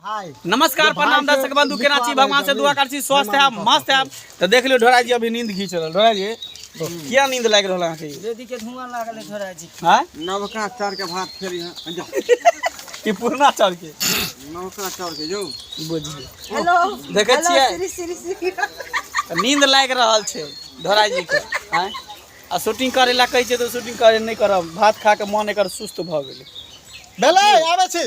नमस्कार प्रणाम दर्शक बंधु केना छी भगवान से दुआ कर छी स्वस्थ है मस्त है तो देख लियो ढोरा जी अभी नींद घीच रहल ढोरा जी किया नींद लाग रहल अहाँ के रेडी के धुआं लागल है ढोरा जी हां नवका चार के भात खेल यहां जा ई पुरना चार के नवका चार के जो बुझ हेलो देखे छियै श्री श्री श्री नींद लाग रहल छै ढोरा जी के हां आ शूटिंग करे ला कहै छै तो शूटिंग करे नहीं करब भात खा के मन एकर सुस्त भ गेलै भेलै आबै छी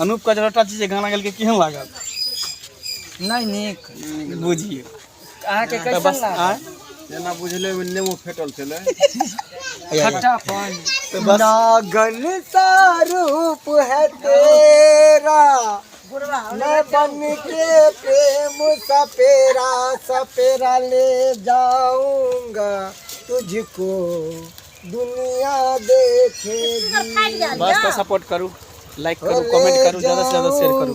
अनूप का जरा चीज गाना गेल के केहन लागल नहीं निक बुझियो अहाँ के कैसन बस लागल आँय? जेना बुझले में नेमो फेटल छलै या, या। खट्टा पान तो बस नागन सा रूप है तेरा मैं बन के प्रेम सपेरा सपेरा ले जाऊंगा तुझको दुनिया देखेगी बस तो सपोर्ट करू लाइक करू कमेंट करू ज्यादा से ज्यादा शेयर करू